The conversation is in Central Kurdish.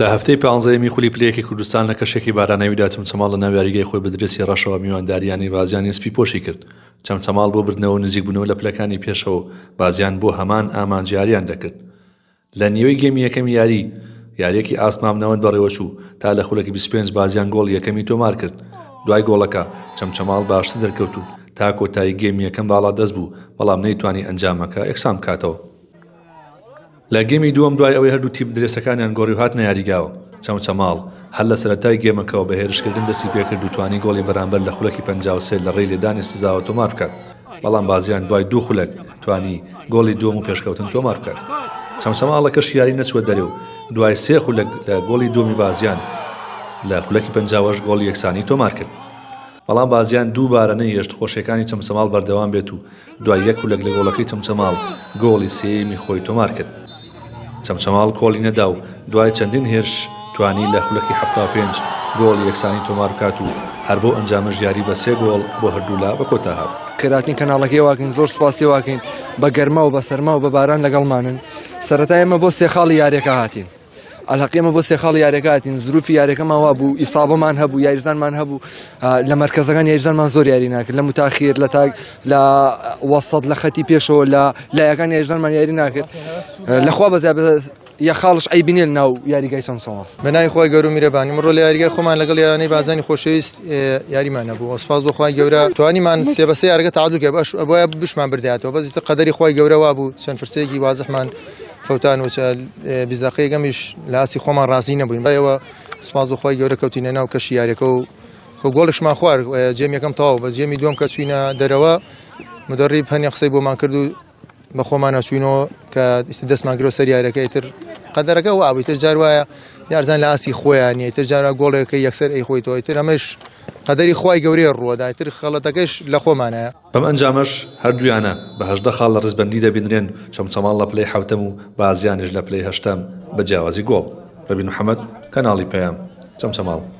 لە هەفتەی پانزەیەمی خولی پلەیەکی کوردستان لە کەشێکی باراناویدا چەمچەماڵ لەناو یاریگای خۆی بە درێسی ڕەشەوە میواندارییانی بازیانی سپیپۆشی کرد، چەمچەماڵ بۆ بردنەوەو نزیکبوونەوە لە پلەکانی پێشەوەو بازیان بۆ هەمان ئامانج یارییان دەکرد لە نیوەی گێمی یەکەمی یاری، یارییەکی ئاست مامناوەند بەڕێوەچوو تا لە خولەکی بیست و پێنج بازیان گۆڵی یەکەمی تۆمارکرد دوای گۆڵەکە چەمچەماڵ باشتر دەرکەوتو تا کۆتایی گێمی یەکەم باڵادەست بوو بەڵام نەیتوانی ئەنجامەکە یەکسانبکاتەوە. لە گێمی دووەم دوای ئەوەی هەردوو تیپ درێسەکانیان گۆڕی و هاتنە یاریگاوە، چەمچەماڵ هەر لە سەرەتای گێمەکەوە بە هێرشکردن دەستی پێکرد و توانی گۆڵی بەرامبەر لە خولەکی پەنجا و سێ لە ڕێی لێدانی سزاوە تۆمار بکات، بەڵام بازیان دوای دوو خولەک توانی گۆڵی دووەم و پێشکەوتن تۆمار بکات. چەمچەماڵەکەش یاری نەچووە دەرێ و دوای سێ خولەک لە گۆڵی دووەمی بازیان لە خولەکی پەنجاوەش گۆڵی یەکسانی تۆمار کرد، بەڵام بازیان دووبارە نەیهێشت خۆشیەکانی چەمچەماڵ بەردەوام بێت و دوای یەک خولەک لە گۆڵەکەی چەمچەماڵ گۆڵی سێیەمی خۆی تۆمارکرد. چەمچەماڵ کۆڵی نەدا و دوای چەندین هێرش توانی لە خولەکی حەفتا و پێنج گۆڵی یەکسانی تۆماربکات و هەر بەو ئەنجامەش یاری بە سێ گۆڵ بۆ هەردوولا بەکۆتاهات. خێراترین کەناڵەکەی ئێواکەین زۆر سوپاسی ئێواکەین بە گەرما و بە سەرما و بە باران لەگەڵمانن سەرەتا ئێمە بۆ سێ خاڵی یاریەکە هاتین. ئەلهەقی ئێمە بۆ سێ خاڵی یاریەکە هاتین زروفی یاریەکەمان وا بوو ئیسابەمان هەبوو یاریزانمان هەبوو لە مەرکەزەکان یاریزانمان زۆر یاری ناکرد لە متاخیر لە تاک لە وەسەد لە خەتی پێشەوە لە لایەکان یاریزانمان یاری ناکرد لەخوا بەزیاب یا خاڵش ئەی بنێن ناو یاریگای سەمسەوە بەنای خۆی گەورو میرەبانی مڕۆ لە یاریگای خۆمان لەگەڵ یانەی بازانی خۆشەویست یاریمان نەبوو ئەسپاس بۆ خخوای گەورە توانیمان سێ بەسە یارگە تادوکە بەش بۆە بشمان برداتەوە بەزیتە قەدەری خخوای گەورەوا بوو چەند فرسێکی وازحمان فوتان و چە بیزاقەیە گەمیش لە ئاسی خۆمان ڕازی نەبووین بەەوە سپاس بخوای گەورە کەوتینە ناو کەشی یاریەکە و خۆ گۆڵشمان خوار جێم یەکەم تاو بە جێمی دوم کە چوینە دەرەوە مدەڕی پەنی قسەی بۆمان کرد و بە خۆمانە چوینەوە کە دەستمان گرۆ سەر یارەکەی تر قەدەرەکە و ئاوی تر جار وایە یارزان لە ئاسی خۆیان نیە تر جارا گۆڵێکە یەکسەر ئەی خۆی تۆی تر ئەمەش قەدەری خی گەورەیە ڕووەدای تر خەڵەتەکەش لە خۆمانەیە بەم ئەنجامەش هەردوویانە بە هەژدە خاڵ لە ڕیزبەندی دەبینرێن، چەمچەماڵ لە پلەی حەوتەم و بازیانیش لە پلەی هەشتەم بە جیاوازی گۆڵ. ڕەبین محەمەد، کەناڵی پەیام، چەمچەماڵ.